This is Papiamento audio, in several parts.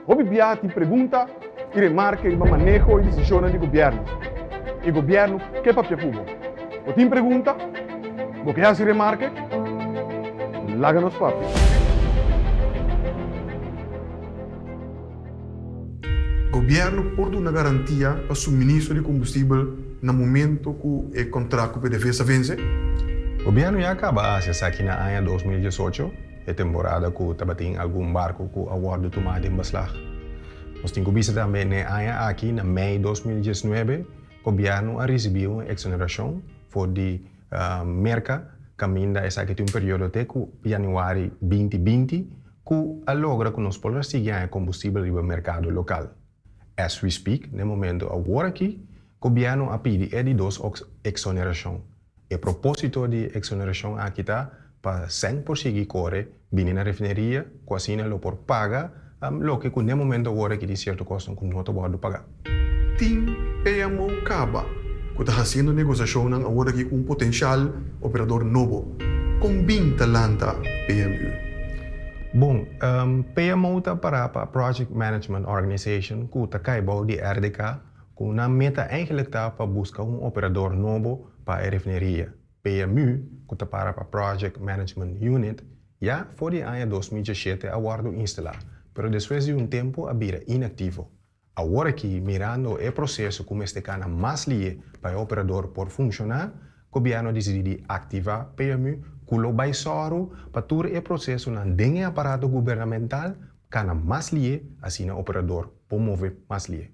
Hopi biaha tin pregunta i remarka riba maneho i desishonnan di gobièrnu, i gobièrnu ke papia ku bo. Bo tin pregunta? Bo ke hasi remarke? Laga nos papia. Gobièrnu por duna garantia pa suministro di kombustibel na momento ku e kontrakt ku PDVSA vense? Gobièrnu ya a kaba hasi esaki na aña dos mil diesocho. E temporada ku tabatin algun barku ku a wòrdu tumá den baslag. Nos tin ku bisa tambe n'e aña aki, na mei dos mil diesnuebe, gobièrnu a risibí un eksonerashon for di Merka kaminda esaki tin un periodo te ku yanüari binti binti ku a logra ku nos por a sigui haña kombustibel riba merkado lokal. As we speak, n'e momentu awor aki, gobièrnu a pidi e di dos eksonerashon. E propósito di e exoneracion aki ta pa sèn por sigui kore bini na refineria ku asina lo por paga loke ku n'e momento awor aki tin sierto kosnan ku no ta wòrdu pagá. Tin PMO kaba ku ta hasiendo negosiashonnan awor aki ku un potensial operador nobo. Kon bin ta lanta PMU? Bon, PMO ta pará pa Project Management Organization ku ta kai bou di RDK. cu nan meta eigenlijk ta pa busca un operador nobo pa e refineria. PMU, cu ta para pa Project Management Unit, ya for di aña dos mil dieschete a wordo instala, pero despues di un tempo a bira inactivo. Awor aki, mirando e proceso cu mester cana mas lie pa e operador por funciona, Gobierno dicidi di activa PMU, cu lo bay soro pa tur e procesonan den e aparato gubernamental Cana mas lié, asina operador por move mas lié.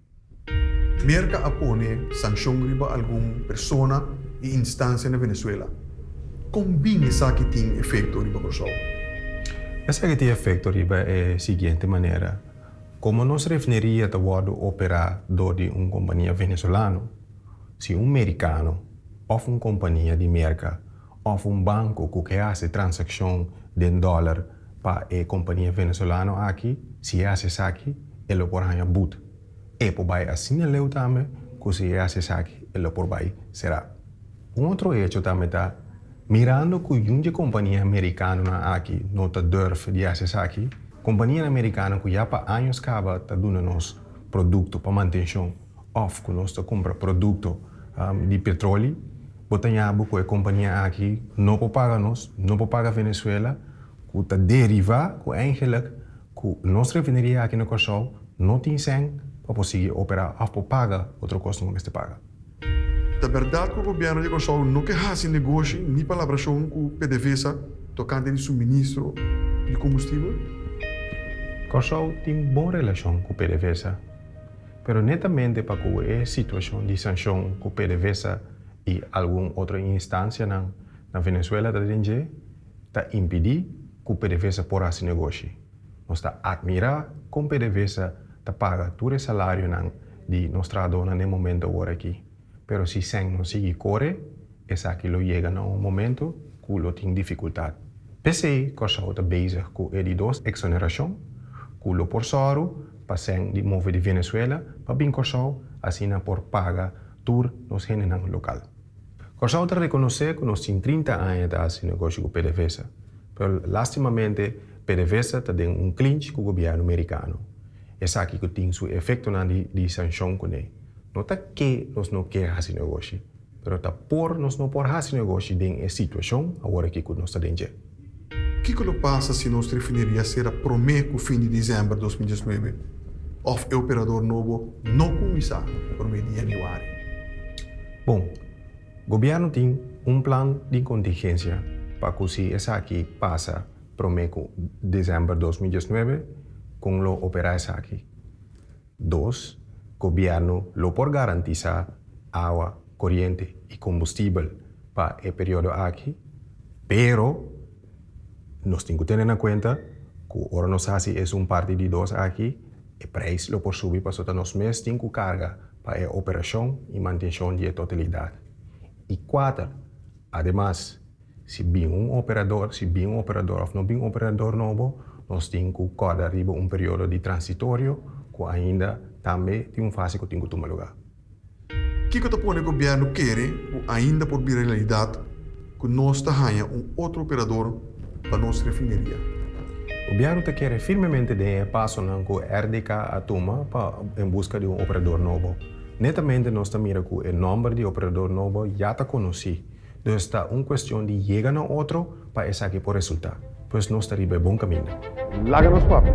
Merca a pone sancion riba algun persona y instancia na Venezuela. Con bin esaki tin efecto riba Corsou? Esaki tin efecto riba e siguiente manera, Como nos refineria ta wordo opera door di un compania Venezolano, si un Mericano of un compania di Merca òf un banko ku ke hasi transakshon den dòler pa e kompania Venezolano aki, si e hasi esaki e lo por haña bud. E por bai asiña leu tambe ku si e hasi esaki e lo por bai será. Un otro hecho tambe ta, mirando ku yun di e kompania amerikanonan aki no ta durf di hasi esaki, kompanianan amerikano ku ya pa años kaba ta duna nos produkto pa mantenshon, òf ku nos ta kumpra produkto di petroli, bo ta yabu ku e kompania aki no por paga nos, no por paga Venezuela, ku ta derivá ku eindelijk ku nos refineria aki na Kòrsou no tin sèn pa por sigui operá òf por paga otro kos nan bo mester paga. Ta bèrdat ku Gobièrnu di Kòrsou no ke hasi negoshi ni palabrashon ku PDVSA tokante di suministro di kombustibel? Kòrsou tin bon relashon ku PDVSA. pero netamente pa kuwe e situashon di sanshon ku PDVSA i algun otro instansianan na Venezuela ta den dje ta impidí ku PDVSA por hasi negoshi. Nos ta atmirá kon PDVSA ta paga tur e salarionan di nos trahadónan den momentu awor aki, pero si sèn no sigui kore, esaki lo yega na un momentu ku lo tin difikultat. P'esei Kòrsou ta bezig ku e di dos eksonerashon ku lo por sòru pa sèn di move di Venezuela pa bin Kòrsou asina por paga tur nos hendenan lokal. Kòrsou ta rekonosé ku nos tin trinta aña ta hasi negoshi ku pdvsa, pero lastimamente pdvsa ta den un klinch ku gobièrnu merikano, esaki ku tin su efektonan di sanshon kuné. No ta ke nos no ke hasi negoshi, pero ta por nos no por hasi negoshi den e situashon awor aki ku nos ta den dje. Kiko lo pasa si nos refineria sera promé ku fin di disember dos mil dieznuebe òf e operador nobo no kuminsá promé di yanüari? Bon, gobièrnu tin un plan di kontingensia pa ku si esaki pasa promé ku disember dos mil dieznuebe kon lo operá esaki. Dos, gobièrnu lo por garantisá awa, koriente i kombustibel pa e periodo aki, pero nos tin ku tene na kuenta ku ora nos hasi esun parti di dos aki e preis lo por subi pasobra nos mes tin ku karga pa e operashon i mantenshon di e totalidat. I kuater, ademas, Si bin un operador, si bin un operador of no bin un operador nobo, nos tin cu corda riba un periodo di transitorio cu ainda tambe tin un fase cu tin cu tuma lugar. Kico ta pone Gobierno kere cu ainda por bira realidad cu nos ta haya un otro operador pa nos refineria? Gobierno ta kere firmemente den e pasonan cu RDK a tuma pa en busca di un operador nobo. Netamente nos ta mira cu e nomber di operador nobo ya ta conoci. Pues ta un cuestion di yega na otro pa esaki por resulta. Pues nos ta riba e bon caminda. Laga nos papia.